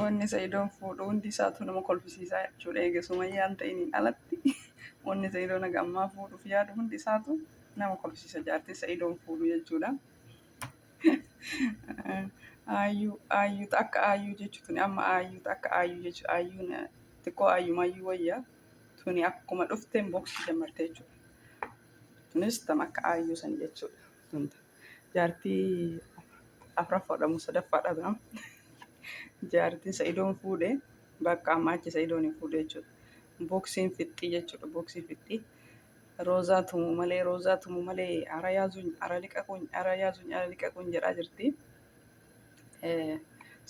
Wanni Sayidoon fuudhu hundi isaatu nama kolfisiisa jechuudha. Eega Sumayyaan ta'iin alatti wanni Sayidoon haga ammaa fuudhuuf yaadu hundi isaatu nama kolfisiisa. Jaartii Sayidoon fuudhu jechuudha. Aayyuu ta akka aayyuu jechuun tuni amma aayyuu ta akka aayyuu jechuun aayyuun xiqqoo aayyumaayyuu wayya. Tuni akkuma dhufteen boksuu jammarte jechuudha. Tunis tam akka aayyuu san jechuudha. Jaartii afraffaadha moo sadaffaadha biraa jaartiin sa'idoon fuudhe bakka ammaa achi sa'idoon hin fuudhe jechuudha. Booksiin fixxii jechuudha booksii fixxii. Roozaa tumu malee roozaa tumu malee ara yaazuun ara liqaquun ara yaazuun ara liqaquun jedhaa jirti. Eh,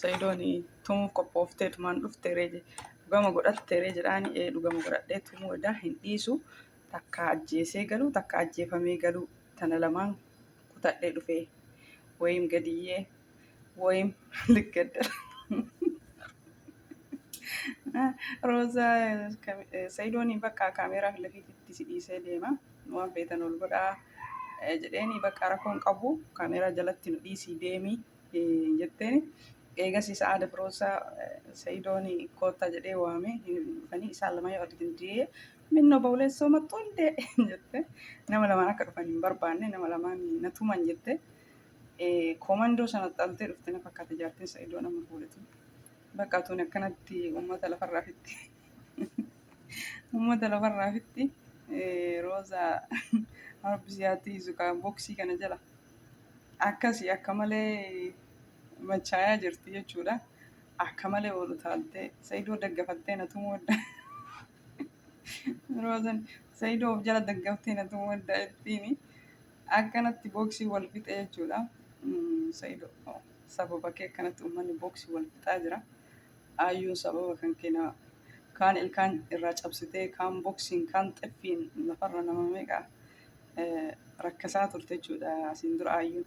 Sa'idoon tumuuf qophooftee tumaan dhufte ree je- dhugama godhatte ree jedhaani ee dhugama godhadhee tumuu edaa hin dhiisu Takkaa ajjeesee galuu takkaa ajjeefamee galuu tana lamaan kutadhee dhufee woyim gadiyyee woyim liggaddar roozaa sayidooni bakka kaameeraa filafiititti si dhiisee deema waan feetan ol godhaa jedheeni bakka rakkoon qabu kaameeraa jalatti nu dhiisii deemi jetteeni eegasii sa'aada firoosaa sayidooni koottaa jedhee waame hin dhufanii isaan lama yoo argitin diyee Minna obboleessoo mattuu hundee jette nama lamaan akka dhufan hin barbaanne nama lamaan na tuman jette koomandoo sana xaltee dhufte na fakkaate jaartiin sa'idoo nama fuudhetu bakka tuun akkanatti uummata lafarraa fitti uummata lafarraa fitti rooza arbisiyaatti izukaa boksii kana jala akkasi akka malee machaayaa jirti jechuudha akka malee oolu taaltee sa'idoo daggafattee na tumuu adda. Roozan Saidoo of jala daggaftee na tumuu adda ittiini. Akkanatti booksii wal fixe jechuudha. Mm, Saidoo oh, sababa kee akkanatti uummanni booksii wal fixaa jira. Aayyuun sababa kan keena kaan ilkaan irraa cabsitee kaan booksiin kaan xeffiin lafarra nama meeqa eh, rakkasaa turte jechuudha asiin dura aayyuun.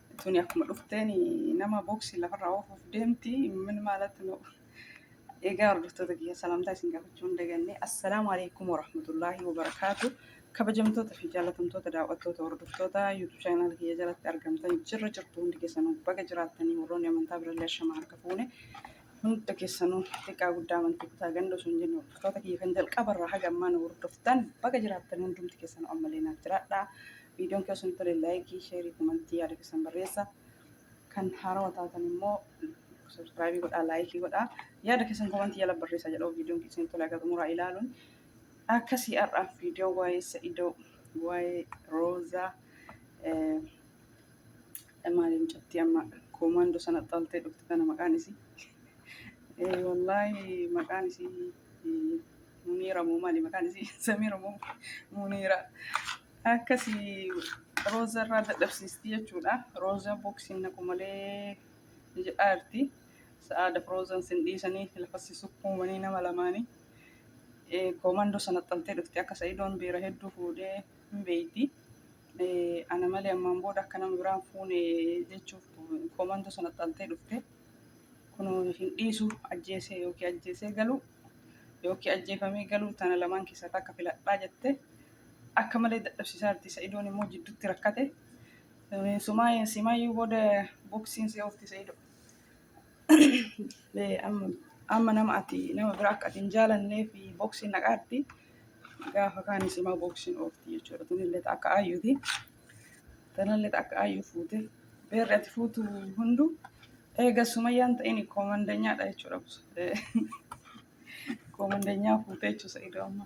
Tuni akkuma dhufteen nama booksii lafarraa oofuuf deemti. Min maalatti nu egaa hordoftoota kiyya salaamtaa isin gaafachuu hin daganne. Assalaamu alaikum warahmatullaahi wabarakaatu. Kabajamtoota fi jaalatamtoota daawwattoota hordoftoota YouTube channel kiyya jalatti argamtan jirra jirtu hundi keessanuu baga jiraattanii warroonni amantaa birallee ashama harka fuune hunda keessanuu xiqqaa guddaa amantii kutaa ganda osoo hin jenne hordoftoota kiyya kan jalqabarraa haga ammaa nu hordoftan baga jiraattan hundumti keessanuu ammallee naaf jiraadhaa. Viidiyoon keessan tole laayikii, sheerii, komantii yaada keessan barreessa. Kan haarawa taatan immoo subscribe godhaa, laayikii godhaa. Yaada keessan komantii jala barreessa jedhoo viidiyoon keessan tole akka xumuraa ilaaluun. Akkasii har'aaf viidiyoo waa'ee Sa'idoo, waa'ee Roozaa, eh, maaliin cabtee amma koomaandoo sana xaltee dhuftu kana maqaan isii. Eh, Wallaahi maqaan isii eh, Muniira moo maali maqaan isii Samiira moo Muniira. Akkasi Rooza irraa dadhabsiisti jechuudha. Rooza boksiin naqu malee ni jedhaa jirti. Sa'aadaf Roozan sin dhiisanii lafassi sukkuumanii nama lamaanii. Eh, Koomandoo sana xaltee dhufti akka Sa'idoon beera hedduu fuudhee hin beeyti. Eh, Ana malee ammaan booda akka nama biraan fuune jechuuf koomandoo sana xaltee dhufte. Kunoo hin dhiisu ajjeesee yookiin ajjeesee galuu yookiin ajjeefamee galuu tana lamaan keessaa takka filadhaa jette. akka malee dadhabsiisaa jirti. Sa'idoon immoo jidduutti rakkate. Sumaayeen simaayyuu booda boksiin si oofti sa'idoo. Amma nama ati nama biraa akka ati hin jaalannee fi boksiin naqaatti gaafa kaan simaa boksiin oofti jechuudha. Tunillee akka aayyuuti. Tanallee akka aayyuu fuute. Beerri ati fuutu hundu eega sumayyaan ta'in koomandanyaadha jechuudha. Koomandanyaa fuute jechuudha sa'idoo amma.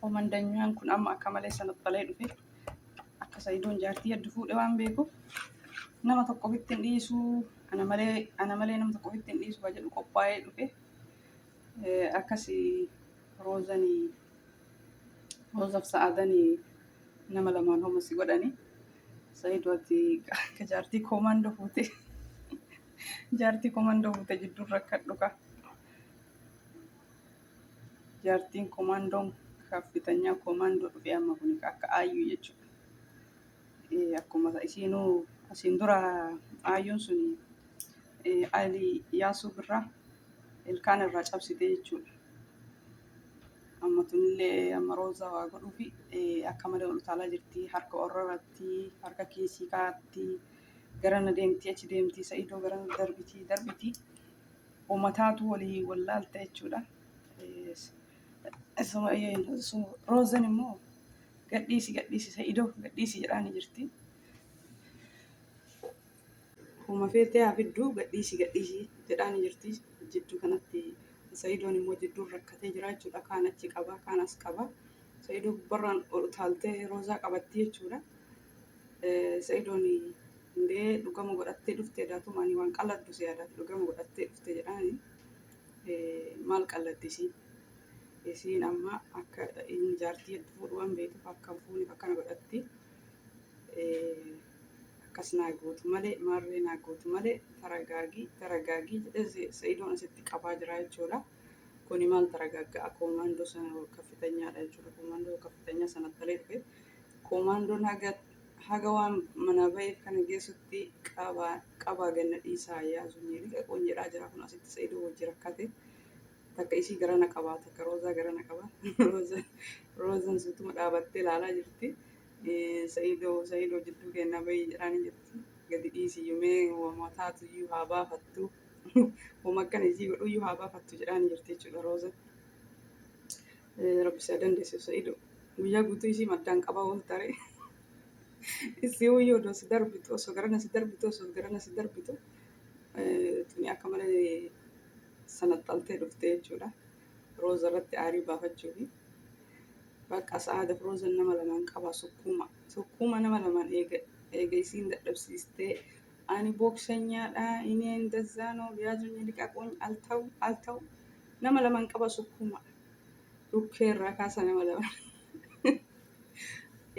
Koomandanyaan kun amma akka malee sanaxxalee dhufe. Akka Sa'idoon jaartii heddu fuudhe waan beekuuf nama tokko ofitti hin dhiisu. Ana malee ana malee nama tokko ofitti hin dhiisu kan jedhu qophaa'ee dhufe. Eh, Akkasi roozani roozaf sa'adani nama lamaan homa si godhani. Sa'idoo ati akka jaartii koomandoo fuute jaartii koomandoo fuute jidduun rakkadhu ka. Jaartiin komaandoon kaaffitanyaa komaandoo dhufee amma kun akka aayyuu jechuudha. Akkuma isiinuu asiin dura aayyuun sun alii yaasuu birraa ilkaan irraa cabsite jechuudha. Amma tunillee amma roozaa waa godhuufi akka malee ol utaalaa jirti harka orrarratti harka kiisii kaatti garana deemti achi deemti sa'idoo garana darbiti darbiti. Ummataatu walii wallaalta jechuudha. Roozan immoo gadhiisi gadhiisi sa'idoo gadhiisi jedhaani jirti. Huma feetee haa fidduu gadhiisi gadhiisi jedhaani jirti. Jidduu kanatti sa'idoon immoo jidduun rakkatee jira jechuudha. Kaan achi qaba kaan as qaba. Sa'idoo gubbarraan ol utaaltee roozaa qabatti jechuudha. Sa'idooni hundee dhugama godhattee dhufte daatuma ani waan qalladdu si yaadaati dhugama godhattee dhufte jedhaani maal qalladdi isiin isiin amma akka inni jaartii hedduu fuudhu waan beektuuf akka hin fuuneef akkana godhatti akkas naa gootu malee maarree naa gootu malee taragaagii taragaagii jedhee sa'idoon asitti qabaa jira jechuudha. Kuni maal taragaagga akoomaandoo sana kaffitanyaadha jechuudha. Akoomaandoo kaffitanyaa sana talee dhufe. Koomaandoon haga waan manaa baheef kana geessutti qabaa gad na dhiisaa yaa zumii liqaqoon jedhaa jira kun asitti saidoo wajji rakkate takka isii gara na qabaa takka roozaa gara na qaba roozan suutuma dhaabattee laalaa jirti saidoo saidoo jidduu keennaa bahii jedhaanii jirti gadi dhiisii yumee wama taatu iyyuu haa baafattu wama akkana isii godhu iyyuu haa baafattu jedhaanii jirti jechuudha roozan Rabbi si haa dandeessisu Sa'ido. Guyyaa guutuu isii maddaan qabaa oolta ree. Isii hoyyoo odoo si darbitu osoo garana si darbitu osoo garana si darbitu tuni akka malee sanaxxaltee dhufte jechuudha. Rooza irratti aarii baafachuufi. Bakka sa'aadaf roozan nama lamaan qabaa sukkuuma. Sukkuuma nama lamaan eega eega isiin dadhabsiistee ani booksanyaadha ineen dazzaanoo biyaazunyi liqaquuny altaw altaw nama lamaan qabaa sukkuuma. dhukkee irraa kaasa nama daba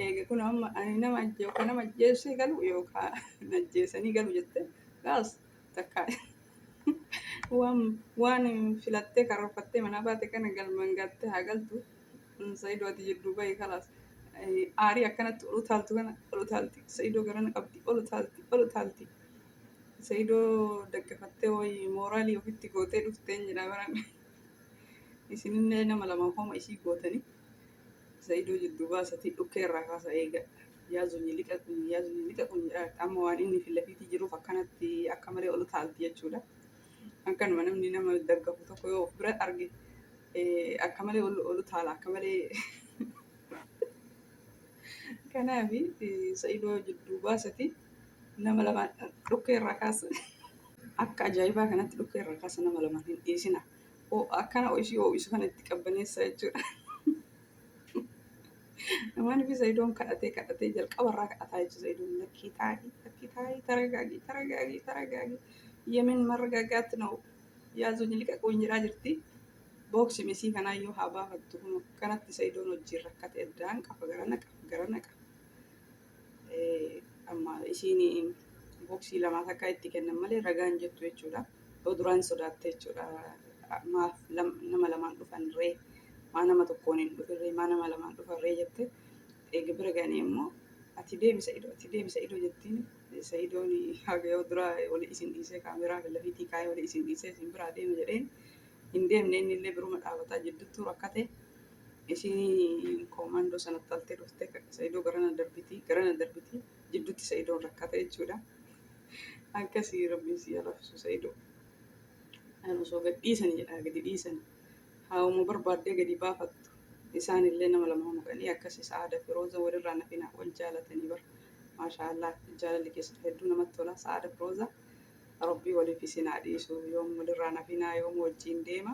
eega kun amma ani nama ajje yookaan nama ajjeessee galu yookaan ajjeesanii galu jette gaas takka waan waan filattee karoorfattee manaa baate kana galmaan gaattee haa galtu sayidoo ati jidduu bahii kalaas aarii akkanatti ol utaaltu kana ol utaalti sayidoo garana qabdi ol utaalti ol utaalti sayidoo daggafattee wayii mooraalii ofitti gootee dhufteen jedha baraan. Isinillee nama lama homa isii gootanii Sa'idoo jidduu baasatii dhukkee irraa kaasa eega. Yaa zunyi liqa kun yaa zunyi liqa kun jedhaa jirti. Amma waan inni fi lafiitii jiruuf akkanatti akka malee ol utaalti jechuudha. Akkanuma namni nama daggafu tokko yoo of bira arge eh, akka malee ol ol utaala akka malee. Kanaaf eh, Sa'idoo jidduu baasatii nama lama dhukkee irraa kaasa. Akka ajaa'ibaa kanatti dhukkee irraa kaasa nama lamaan hin dhiisina. Akkana ishii ho'isu kana itti qabbaneessa jechuudha. Namaan fi Sayidoon kadhatee kadhatee jalqaba irraa kadhataa jechuudha. Sayidoon lakkii taa'ii lakkii taa'ii taragaagii taragaagii taragaagii yemin marragaagaatti na'u yaazuu jiliqaquu hin jedhaa jirti. Booksi misii kanaa yoo haa baafattu kanatti Sayidoon wajjin rakkate addaan qafa gara naqa gara naqa. Amma ishiin boksii lamaas akka itti kennan malee ragaan jettu jechuudha. Yoo duraan sodaatte jechuudha. Maaf nama lamaan dhufan ree maa nama tokkoon hin dhufin ree maa nama lamaan dhufan ree jette eega bira ganii immoo ati deemi sa'idoo ati deemi sa'idoo jettiin sa'idoon haga yoo duraa wali isin dhiisee kaameraa lafiitii kaayee wali isin dhiisee isin biraa deema jedheen hin deemne inni illee biruma dhaabataa jidduttuu rakkate. Isiin koomandoo sana utaltee dhuftee sa'idoo garana darbitii garana darbitii jidduutti sa'idoon rakkata jechuudha. Akkasii rabbiin si yalafisuu sa'idoo. An osoo gad dhiisani jedhaa gadi dhiisani haawuma barbaaddee gadi baafattu isaan illee nama lama maqanii akkasi sa'aada firooza walirraa nafinaa wal jaalatanii bar maashaa allah jaalalli keessan hedduu namatti tola sa'aada firooza rabbii waliif isin haa dhiisu yoom walirraa nafinaa yoom wajjiin deema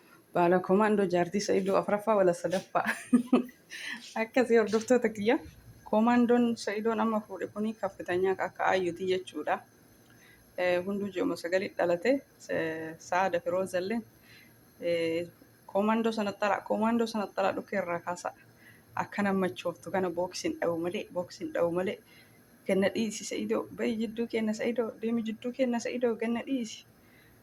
Baala Komaandoo Jaartii Sa'idoo afraffaa wala sadaffaa. Akkasii hordoftoota kiyya. Komaandoon Sa'idoon amma fuudhe kuni kaffitanyaa akka aayyuti jechuudha. Hunduu ji'uma sagalii dhalate Sa'aada Firoozalleen komaandoo sana xalaa komaandoo sana xalaa dhukkee irraa kaasaa akka nama machooftu kana booksiin dhawu malee booksiin dhawu malee ganna dhiisi Sa'idoo bayi jidduu kenna Sa'idoo deemi jidduu kenna Sa'idoo ganna dhiisi.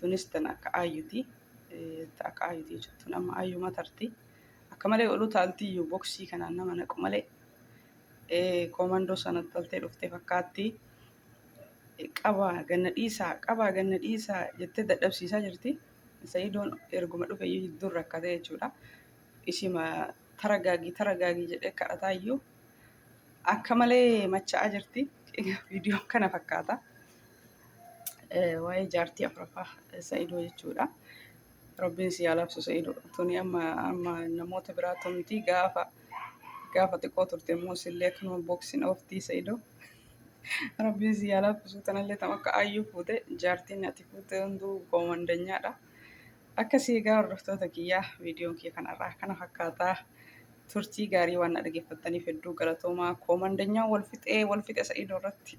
Tunis tan akka ayyuti. Ta akka ayyuti jechuun tun amma ayyuma tarti. Akka malee olu taaltiyyu boksii kanaan nama naqu malee. Koomandoo sana taltee dhuftee fakkaatti. Qabaa ganna dhiisaa qabaa ganna dhiisaa jettee dadhabsiisaa jirti. Sa'idoon erguma dhufeyyuu hedduun rakkate jechuudha. Ishima taragaagi taragaagi jedhee kadhataa iyyuu akka malee macha'aa jirti. Egaa viidiyoo kana fakkaata. Eh, Waa'ee jaartii afuraffaa eh, Sa'idoo jechuudha. Rabbiin si haa labsu Sa'idoo. Tuni amma amma namoota biraa tumti gaafa gaafa xiqqoo turte immoo sillee akkanuma boksiin ooftii Sa'idoo. Rabbiin si haa laaffisu tanallee tam akka aayyuu fuute jaartiin ati fuute hunduu koomandanyaadha. Akkasii egaa hordoftoota kiyyaa viidiyoon kiyya kan har'aa kana fakkaataa turtii gaarii waan na dhaggeeffattaniif hedduu galatoomaa koomandanyaa wal fixee wal fixe sa'iidoo irratti